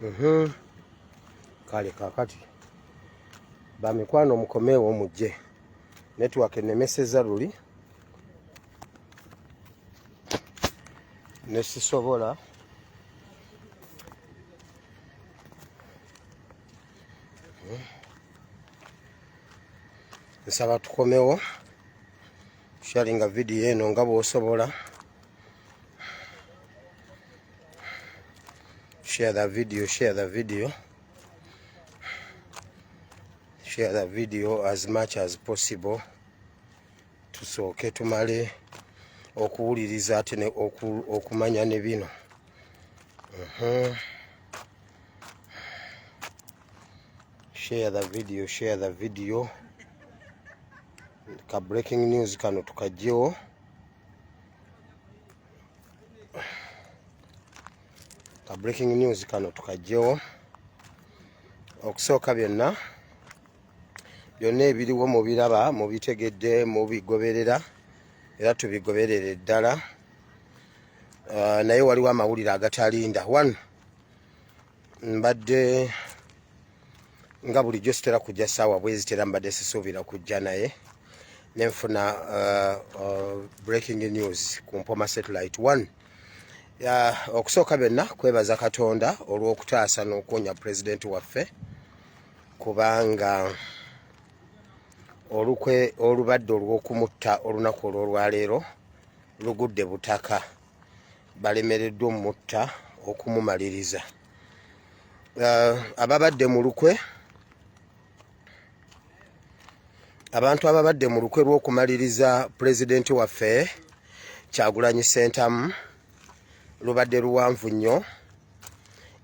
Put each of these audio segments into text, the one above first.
Mhm. kale kakati bamikwano mukomeewo mujje network enemeseza luli nesisobola nsaba tukomewo sharinga vidiyo eno nga bwosobola share the video share the video share the video as much as possible tusooke tumale okuwuliriza ate okumanya ne bino uh -huh. share the video share the video ka breaking news kano tukajjewo ka breaking news kano tukajjewo okusooka byonna byonna ebiriwo mubiraba mubitegedde mubigoberera era tubigoberere ddala uh, naye waliwo amawulire agatalinda one mbadde nga bulijjo sitera kujja saawa bwezitera mbadde sisuubira kujja naye nenfuna uh, uh, breaking news ku mpoma satellite one okusooka byonna kwebaza katonda olw'okutaasa n'okuwonya pulezidenti waffe kubanga olukwe olubadde olw'okumutta olunaku olw'olwaleero lugudde butaka balemereddwa omutta okumumaliriza uh, ababadde mu lukwe abantu ababadde mu lukwe lw'okumaliriza pulezidenti waffe kyagulanyi sentamu lubadde luwanvu nnyo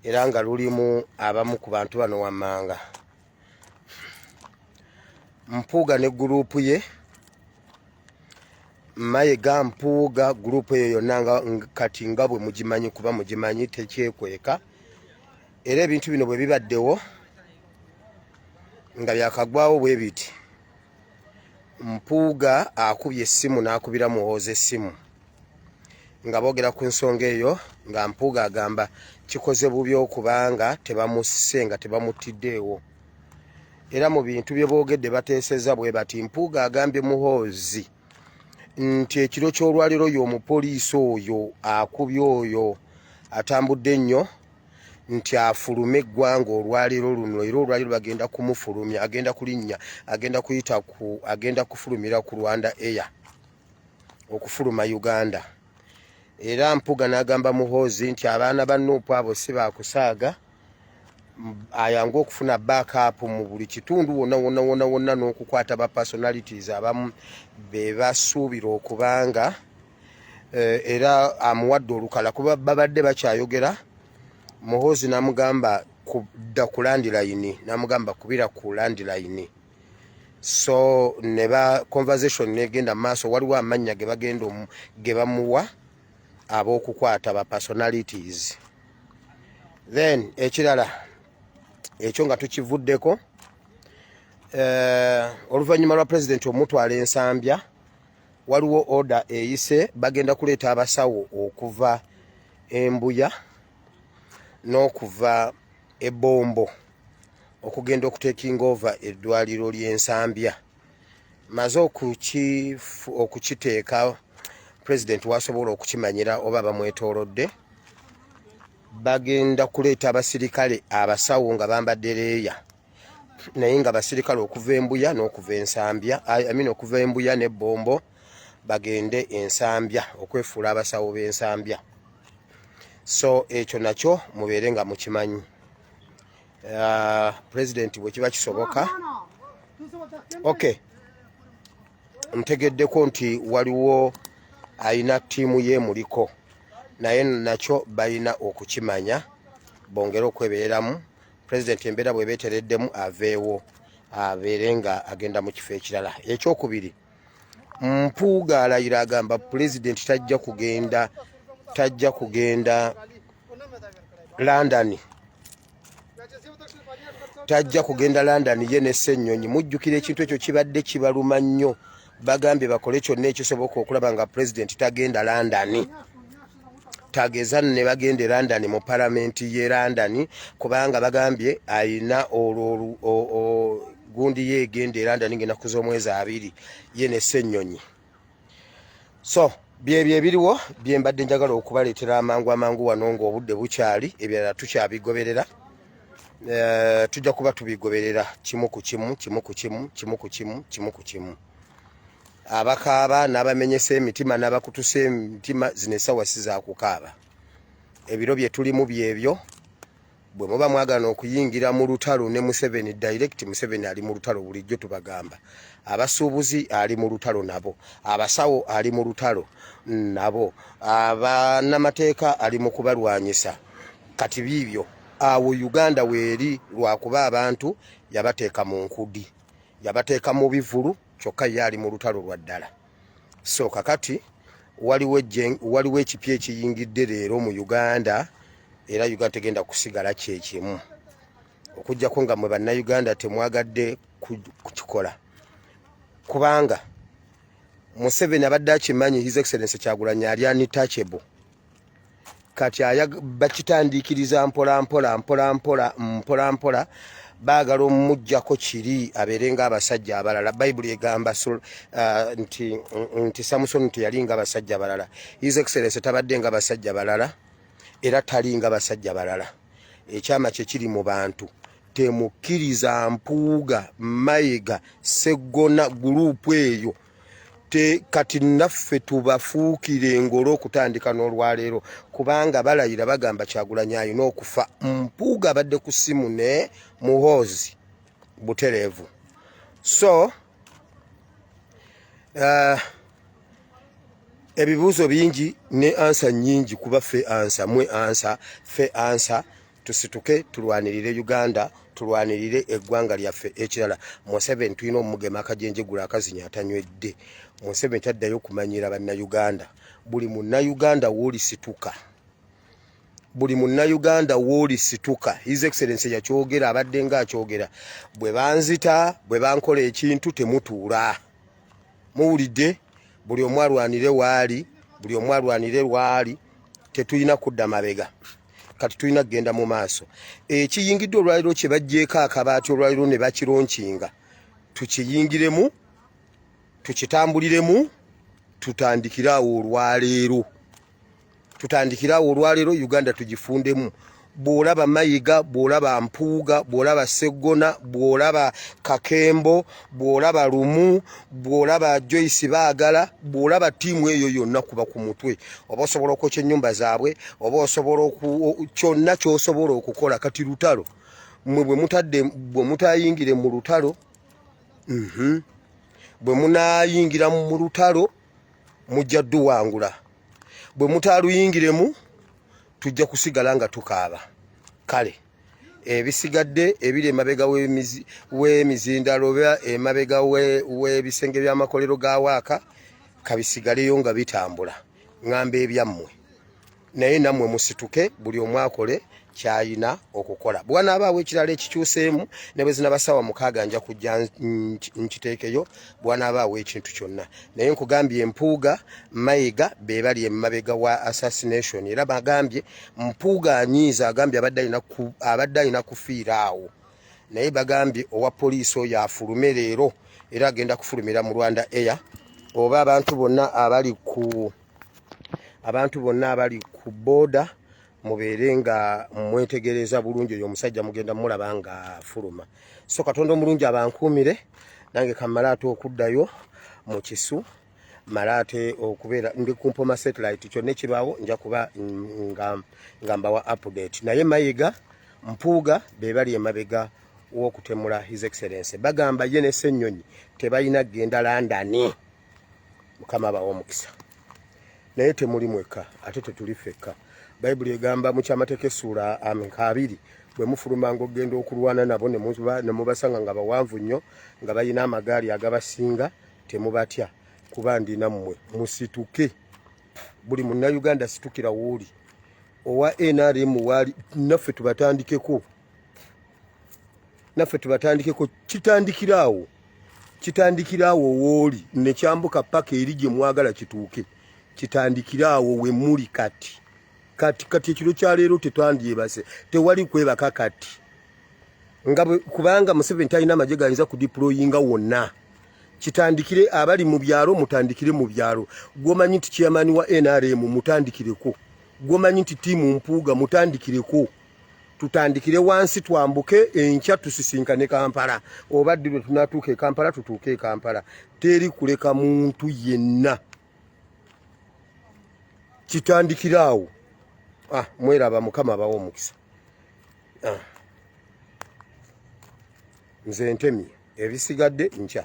era nga lulimu abamu ku bantu bano wammanga mpuuga ne gurupu ye mayega mpuuga gurupu eyo yonna nga kati nga bwe mugimanyi kuba mugimanyi tekyekweka era ebintu bino bwe bibaddewo nga byakagwawo bwe biti mpuuga akubye essimu n'akubira muwooza essimu nga boogera ku nsonga eyo nga mpuuga agamba kikoze bubi okubanga tebamusse nga tebamuttiddeewo era mu bintu bye boogedde bateeseza bwe bati mpuuga agambye muhoozi nti ekiro ky'olwaliro y'omupoliisi oyo akubye oyo atambudde nnyo nti afulume eggwanga olwaliro luno era olwaliro bagenda kumufulumya agenda kulinnya agenda kuyita ku agenda kufulumira ku rwanda air okufuluma uganda era mpuga nagamba muhoozi nti abaana ba nuupu abo si bakusaaga ayange okufuna backup mu buli kitundu wona wona wona wona n'okukwata ba personalities abamu be basuubira okubanga eh, era amuwadde olukala kuba babadde bakyayogera muhoozi namugamba kudda ku landilayini namugamba kubira ku landilayini so ne ba conversation negenda maaso waliwo amannya ge bagenda ge bamuwa ab'okukwata ba personalities then ekirala ekyo nga tukivuddeko eh, oluvannyuma lwa pulezidenti omutwala ensambya waliwo oda eyise bagenda kuleeta abasawo okuva embuya n'okuva ebombo okugenda okutekinga ova eddwaliro ly'ensambya maze okukiteeka president wasobola okukimanyira oba bamwetolodde bagenda kuleeta abasirikale abasawo nga bambadde leeya naye nga basirikale okuva embuya n'okuva ensambya amina okuva embuya n'ebbombo bagende ensambya okwefuula abasawo b'ensambya so ekyo nakyo mubeere nga mukimanyi uh, president bwekiba kisoboka ok ntegeddeko nti waliwo alina tiimu ye muliko naye nakyo balina okukimanya bongere okwebereramu president embeera bwebetereddemu aveewo abeere nga agenda mu kifo ekirala ekyokubiri mpuuga alayira agamba pulezidenti tajja kugenda tajja kugenda london tajja kugenda london ye nesennyonyi mujjukira ekintu ekyo kibadde kibaluma nnyo bagambye bakole kyonna ekisoboka okulaba nga pulezidenti tagenda london tageza ne bagenda e london mu palamenti ye london kubanga bagambye ayina olwo gundi ye egenda e london ng'enaku z'omwezi abiri ye ne ssennyonyi so byebyo ebiriwo bye mbadde njagala okubaleetera amangu amangu wano ng'obudde bukyali ebirala tukyabigoberera eh, tujja kuba tubigoberera kimu ku kimu kimu ku kimu kimu ku kimu kimu ku kimu abakaaba n'abamenyesa emitima n'abakutusa emitima zino esawa si zakukaaba ebiro bye tulimu byebyo bwe muba mwagana okuyingira mu lutalo ne museveni direct museveni ali mu lutalo bulijjo tubagamba abasuubuzi ali mu lutalo nabo abasawo ali mu lutalo nabo abanamateeka ali mu kubalwanyisa kati biibyo awo uganda weeri lwakuba abantu yabateeka mu nkudi yabateeka mu bivulu kyokka ye ali mu lutalo lwa ddala so kakati waliwo ekipya ekiyingidde leero mu uganda era uganda tegenda kusigala kyekimu okujjako nga mwe bannayuganda temwagadde kukikola kubanga museveni abadde akimanyi his excellence kyagulanyi ali anitachable kati bakitandiikiriza mpolampola mpolampola mpolampola baagala omumugjako kiri abeere nga abasajja abalala bayibuli egamba uh, nti samusoni teyali nga basajja balala his excellence tabadde nga basajja balala era tali nga basajja balala ekyama kyekiri mu bantu temukkiriza mpuuga mayega seggona guruupu eyo e te kati naffe tubafuukire engolo okutandika n'olwaleero kubanga balayira bagamba kyagulanyi alina okufa mpuuga abadde ku ssimu ne muhoozi butereevu so uh, ebibuuzo bingi ne ansa nyingi kuba fe ansa mwe ansa fe ansa tusituke tulwanirire uganda tulwanirire eggwanga lyaffe ekirala museveni tulina omugema akajenjegula akazinya atanywedde museveni taddayo okumanyira bannayuganda buli munnayuganda woolisituka buli munnayuganda woolisituka his excellence yakyogera abadde nga akyogera bwe banzita bwe bankola ekintu temutuula muwulidde buli omu alwanire waali buli omu alwanire lwaali tetulina kudda mabega kati tulina kugenda mu maaso ekiyingidde olwaliro kye bajjeeko akabaati olwaliro ne bakironkinga tukiyingiremu tukitambuliremu tutandikire awo olwaleero tutandikire awo olwaleero uganda tugifundemu bw'olaba mayiga bw'olaba mpuuga bw'olaba seggona bw'olaba kakembo bw'olaba lumu bw'olaba joyce baagala bw'olaba ttiimu eyo yonna kuba ku mutwe oba osobola okwokya ennyumba zaabwe oba osobola kyonna ky'osobola okukola kati lutalo mwe bwe mutadde bwe mutayingire mu lutalo mhm, bwe munaayingira mu lutalo mujja duwangula bwe mutaaluyingiremu tujja kusigala nga tukaaba kale ebisigadde ebiri emabega w'emizindalo oba emabega w'ebisenge by'amakolero ga waaka kabisigaleyo nga bitambula ŋamba ebyammwe naye nammwe musituke buli omu akole kyayina okukola bwanaabaawo ekirala ekikyuseemu ne bwe zinabasawa mukaaga nja kujja nkiteekeyo bwanaaba awa ekintu kyonna naye nkugambye empuuga mayiga bebali emabega wa assassination era bagambye mpuuga anyiiza agambye abadde alina kufiira awo naye bagambye owa poliisi oyo afulume leero era agenda kufulumira mu rwanda air oba abantu bonna abali ku abantu bonna abali ku booda mubeere nga mwetegereza bulungi oyo omusajja mugenda mulaba nga fuluma so katonda omulungi abankuumire nange kamala ate okuddayo mu kisu mala ate okubeera ndi kumpoma satellite kyonna ekibaawo nja kuba nga, nga mbawa update naye mayiga mpuuga be bali emabega w'okutemula his excellence bagamba ye ne ssennyonyi tebalina kugenda landani mukama abawa omukisa naye temuli mwekka ate tetuli fekka bayibuli egamba mu kyamateeka essuula ameka abiri bwe mufulumanga okugenda okulwana nabo ne mubasanga nga bawanvu nnyo nga balina amagaali agabasinga temubatya kuba ndi nammwe musituke buli munnayuganda situkira wooli owa nrm waali naffe tubatandikeko naffe tubatandikeko kitandikiraawo kitandikiraawo wooli nekyambuka paka eri gye mwagala kituuke kitandikiraawo we muli kati kati kati ekiro kyaleero tetwandyebase tewali kwebaka kati nga kubanga museveni talina amagye gayinza kudiployinga wonna kitandikire abali mu byalo mutandikire mu byalo gwomanyi nti chairman wa nrm mutandikireko gwomanyi nti tiimu mpuuga mutandikireko tutandikire wansi twambuke enkya tusisinkane kampala oba ddi lwe tunatuuka ekampala tutuuke ekampala teri kuleka muntu yenna kitandikira awo ah, mweraba mukama abawo omukisa ah. nze ntemi ebisigadde nkya